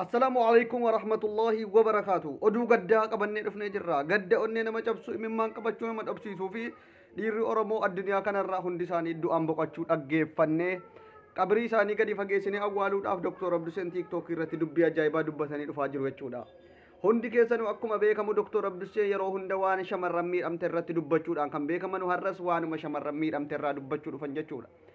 Assalaamu alaikum wa rahmatullahi wa barakaatu. Oduu gaddaa qabannee dhufnee jirra. Gadda onnee nama cabsu, imimmaan qabachuu nama dhabsiisuu fi dhiirri Oromoo addunyaa kanarraa hundi isaanii du'aan boqachuu dhaggeeffannee qabrii isaanii gadi fageessinee awwaaluudhaaf Dr. Abduseen TikTok irratti dubbii ajaa'ibaa dubbatanii dhufaa jiru jechuudha. Hundi keessanuu akkuma beekamu Dr. Abdusee yeroo hunda waan shamarran miidhamte irratti dubbachuudhaan kan beekamanu har'as waanuma shamarran miidhamte irraa dubbachuu dhufan jechuudha.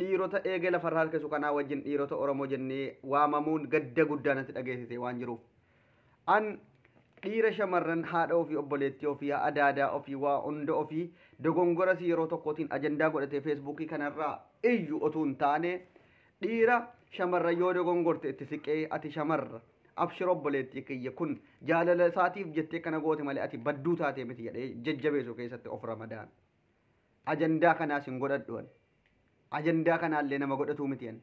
dhiirota eegee lafarra harkisu kanaa wajjin dhiirota Oromoo jennee waamamuun gadda guddaa natti dhageessisee waan jiruuf. An dhiira shamarran haadha ofii obboleettii ofii adaadaa ofii waa hunda ofii dogongoras yeroo tokkootiin ajandaa godhatee feesbuukii kanarraa iyyu otuu hin taane dhiira shamarran yoo dogongorte itti siqee ati shamarra abshir obboleettii kiyya kun jaalala isaatiif jettee kana goote malee ati badduu taatee miti jedhee jajjabeessu keessatti of ramadaan. ajandaa kanaas hin godhadhu ani. Ajandaa kanaallee nama godhatuu miti ani.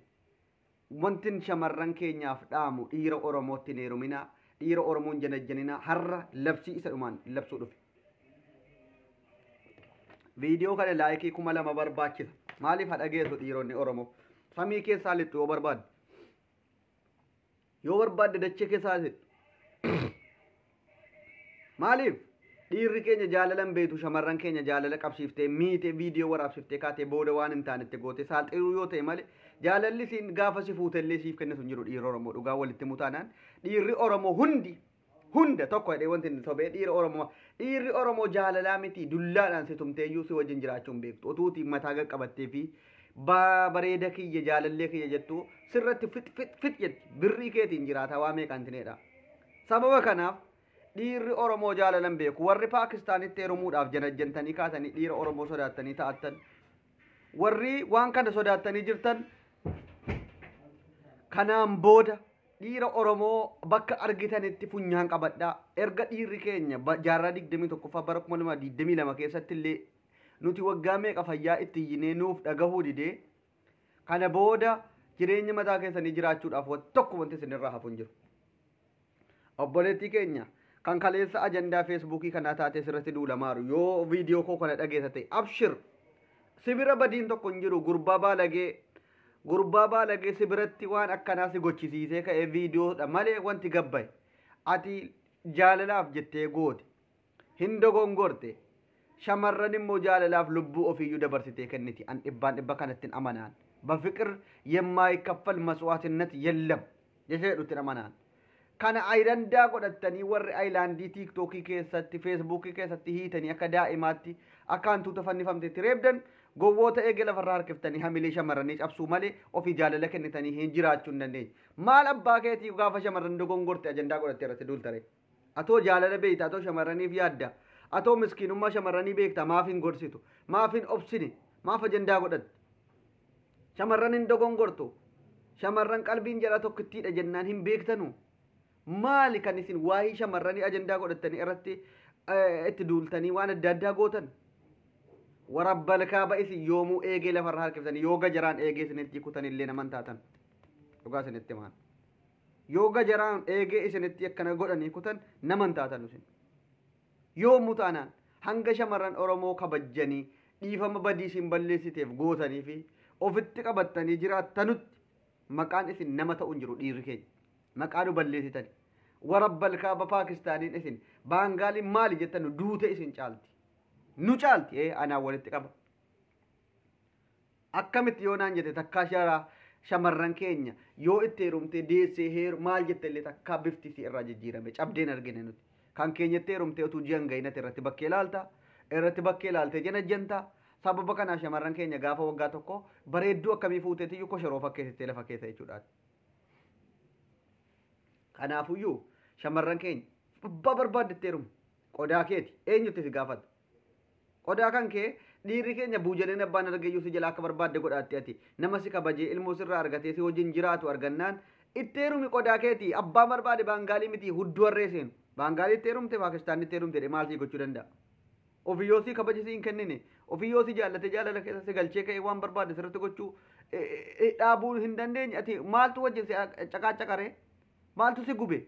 Wantin shamarran keenyaaf dhaamu dhiira Oromootti hin heeruminaa, dhiira Oromoo hin janajjaninaa har'a labsii isa dhumaan labsuu dhufe. Viidiyoo kana laayikii kuma lama barbaachisa. Maaliif ha dhageessu dhiironni Oromoo? Samii keessaa lixxu yoo barbaadde. yoo barbaadde dachee keessa haasa'e maaliif dhiirri keenya jaalala hin beektu shamarran keenya jaalala qabsiiftee miite viidiyoo waraabsiftee kaatee booda waan hin taanetti goote saaxiluu yoo ta'e malee jaalalli siin gaafa si fuutellee siif kennitu hin jiru dhiirri Oromoo dhugaa walitti mutaanaan dhiirri Oromoo hundi hunda tokko jedhee wanti inni sobee dhiira Oromoo dhiirri Oromoo jaalalaa miti dullaadhaan si tumteeyyuu si wajjin jiraachuu hin beektu utuuti mataa qaqqabattee fi baa bareeda kiyya jaalallee kiyya jettu sirratti fit fit fit jetti birrii keetiin jiraata waa meeqaan tineedha sababa kanaaf dhiirri Oromoo jaalalan beeku warri Paakistaanitti heerumuudhaaf janajjantanii kaatanii dhiira Oromoo sodaattanii ta'attan warri waan kana sodaattanii jirtan kanaan booda dhiira Oromoo bakka argitanitti funyaan qabadhaa. Erga dhiirri keenya ba- jaarraa 21ffaa bara 2022 keessatti illee nuti waggaa meeqa fayyaa itti iyyinee nuuf dhagahuu didee kana booda jireenya mataa keessanii jiraachuudhaaf waan tokko wanti isinirraa hafu hin jiru. Obboleettii keenya kan kaleessa ajandaa feesbuukii kanaa taatee sirratti duulamaaru yoo viidiyoo koo kana dhageessa ta'e abshir sibira badiin tokko hin jiru gurbaa baalagee gurbaa baalagee sibiratti waan akkanaa si gochisiisee ka'ee viidiyoodha malee wanti gabbaye ati jaalalaaf jettee goote Hin dogongorte. Shamarran immoo jaalalaaf lubbuu ofiiyyuu dabarsitee kenniti. An dhibbaan dhibba kanattin amanaan. Bafiqir yemmaayikaffal maswaatinnat yellam. Jecha jedhuttin amanaan. Kana ayirandaa godhattanii warri ayilaandii tiiktookii keessatti, feesbuukii keessatti hiitanii akka daa'imaatti akka hantuuta fannifamteetti reebdan gowwoota eegee lafarraa harkiftanii hamilee shamarranii cabsuu malee ofii jaalala kennitanii hin jiraachuu hin dandeenye. Maal abbaa keetii gaafa shamarran dogongorte ajandaa godhattee irratti duulta ree? Atoo jaalala beekta, atoo shamarraniif yaadda, atoo miskiinummaa shamarranii beekta maaf hin gorsitu? Maaf hin obsine? Maaf ajandaa godhatte? Shamarran hin dogongortu. Shamarran qalbiin jaraa tokkittiidha jennaan hin beektanu. Maali kan isin waa'ee shamarranii ajandaa godhattanii irratti eh, itti duultanii waan adda addaa gootan? Warabbal kaaba isin yoomuu eegee lafarra harkiftanii yoo gajaraan eegee isinitti kutanillee naman taatan. Dhugaa isinitti himaan. Yoo gajaraan eegee isinitti akkana godhanii kutan nama hin taatanu isin. Yoommu taanaan hanga shamarran Oromoo kabajjanii dhiifama badii isin balleessiteef gootanii fi ofitti qabattanii jiraattanutti maqaan isin nama ta'u hin jiru dhiirri keenya. Maqaa nu balleessitani. Warabbal kaaba Paakistaaniin isin Baangaaliin maali jettanu duute isin caalti. Nu caalti ee anaan walitti qaba. Akkamitti yoo naan jette takkaa shara shamarran keenya yoo itti heerumtee deessee heeru maal jette illee takkaa bifti isii irraa jijjiirame cabdeen argine nuti. Kan keenyatti heerumtee utuu ji'an ga'inatti irratti bakkee laalta irratti bakkee laaltee janajjanta sababa kanaa shamarran keenya gaafa waggaa tokko bareedduu akkamii fuuteetiyyuu koshoroo fakkeessitee lafa keessa jechuudhaan. Kanaafuyyuu shamarran keenya abbaa barbaaddetti heerumu qodaa keeti eenyutti si gaafata. Qodaa kan kee dhiirri keenya buujaneen abbaan argeyyuu si jalaa akka barbaadde godhaatti ati. Nama si kabajee ilmoo sirraa argatee si wajjin jiraatu argannaan itti heerumi qodaa keeti abbaan barbaade baangaalii miti hudduu harree seenu. Baangaalii itti heerumte Paakistaanni itti heerumte jedhee maal sii gochuu danda'a? Ofii yoo si kabaje si hin kennine ofii yoo si jaallate jaalala keessa si galchee ka'ee waan barbaade sirratti gochuu dhaabuu hin dandeenye ati maaltu wajjin si caqaacaqaree maaltu si gube?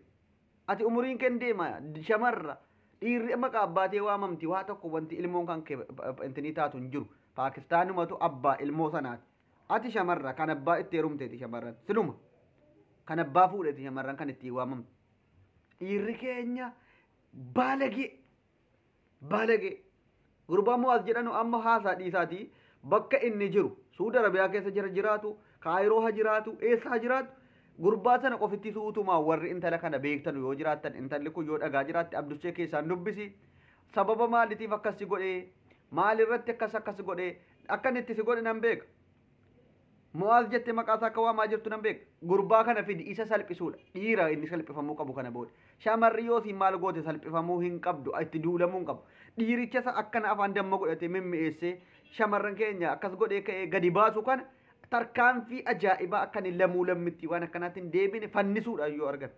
Ati umuriin kee hin deema shamarra dhiirri amma qaabbaatee waamamti waa tokko wanti ilmoon kan kee intinii taatu hin jiru paakistaanumatu abbaa ilmoo sanaati ati shamarra kan abbaa itti heerumteeti shamarran siluma kan abbaa fuudheeti shamarran kan ittiin waamamtu dhiirri keenya baalagee Baalagee. Gurbaan Mu'aaz jedhanu amma haasaa dhiisaatii bakka inni jiru Suudi Arabiyaa keessa jira jiraatu, Kaayiroo ha jiraatu, eessa ha jiraatu gurbaa sana qofitti suutumaa warri intala kana beektanu yoo jiraattan intalli kun yoo dhagaa jiraatte Abdushee keessaan dubbisi. Sababa maalitiif akkas si godhee? Maalirratti akkas akkas godhee? Akkan itti si godhe nan beeka. Mo'aaz jette maqaa isaa akka waamaa jirtu nan beeka. Gurbaa kana fidi isa salphisuudha. Dhiira inni salphifamuu qabu kana booda. Shamarri yoo siin maal goote salphifamuu hin qabdu itti duulamuu hin qabu. Dhiiricha isa akkana afaan damma godhatee mimmi'eessee shamarran keenya akkas godhee ka'ee gadi baasu kana tarkaanfii ajaa'ibaa akka inni lamuu lammitti waan akkanaatti hin deebine fannisuudha yoo argan.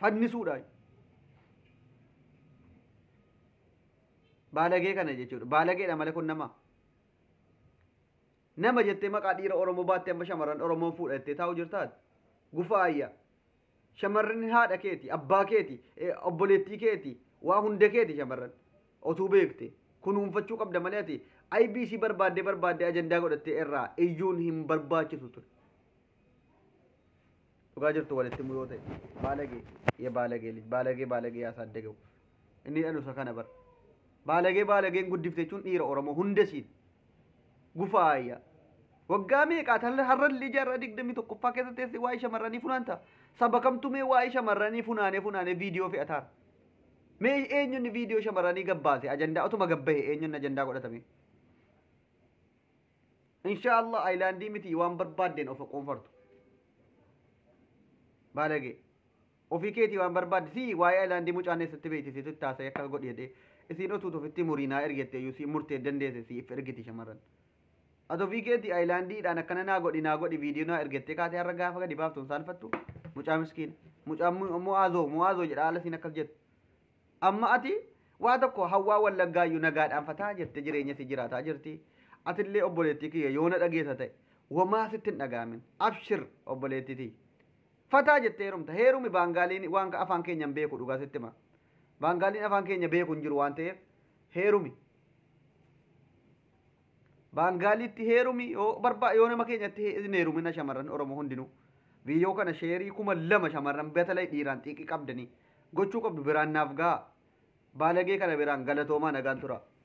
Fannisuudha. Baalagee kana jechuudha. Baalageedha malee kun nama. Nama jettee maqaa dhiira Oromoo baattee amma shamarran Oromoon fuudha jettee taa'u jirtaat. Gufa ayya. Shamarran haadha keeti, abbaa keeti, obboleettii keeti, waa hunda keeti shamarran. Otuu beekte. Kunuunfachuu qabda malee ati IBC barbaaddee barbaaddee ajandaa godhattee irraa iyyuun hin barbaachisu ture. dhugaa jirtu walitti muyoo ta'e baalagee ya baalagee lij baalagee baalagee yaa saaddegewu inni dhalusa kana bar baalagee baalageen guddifte jechuun dhiira oromoo hunda siin gufaayya waggaa meeqaa tan har'allee jaarraa digdamii tokkoffaa keessa teesse waa'ee shamarranii funaanta saba kamtu mee waa'ee shamarranii funaanee funaanee viidiyoo fe'ataan mee eenyuun viidiyoo shamarranii gabbaase ajandaa otuma gabbahe eenyuun ajandaa godhatame Inshaa Allah ayilaandii miti waan barbaaddeen of qoonfartu. Baalagee. Ofii keetii waan barbaadde si waa'ee ayilaandii mucaan eessatti beekti situ itti haasa'e akka godhi jedhee isiin otuutu ofitti muriinaa ergette iyyuu si murtee dandeesse siif ergiti shamarran. Ati ofii keetii ayilaandiidhaan akkana naa godhi naa godhi viidiyoo naa ergettee kaatee har'a gaafa gadi baaftu hin saalfattu mucaa miskiina. Mucaan mu'aazoo mu'aazoo jedha haala isiin akkas jettu. Amma ati waa tokko hawwaa wallaggaayyu nagaadhaan fataa jette jireenya si jiraataa jirti. Atillee obboleettii kiyya yoo na dhageessa ta'e womaa sitti hin dhaga'amin. Abshir obboleettii tiyya. Fataa jette heerumta. Heerumi baangaaliin waan ka afaan keenya hin beeku dhugaa sitti hima. Baangaaliin afaan keenya beeku hin jiru waan ta'eef heerumi. Baangaaliitti heerumi yoo barbaa yoo nama keenyatti he- hin heerumina shamarran Oromoo hundinuu. Viidiyoo kana sheerii kuma lama shamarran batalay dhiiraan xiiqii qabdanii gochuu qabdu biraan naaf gahaa. Baalagee kana biraan galatoomaa nagaan turaa.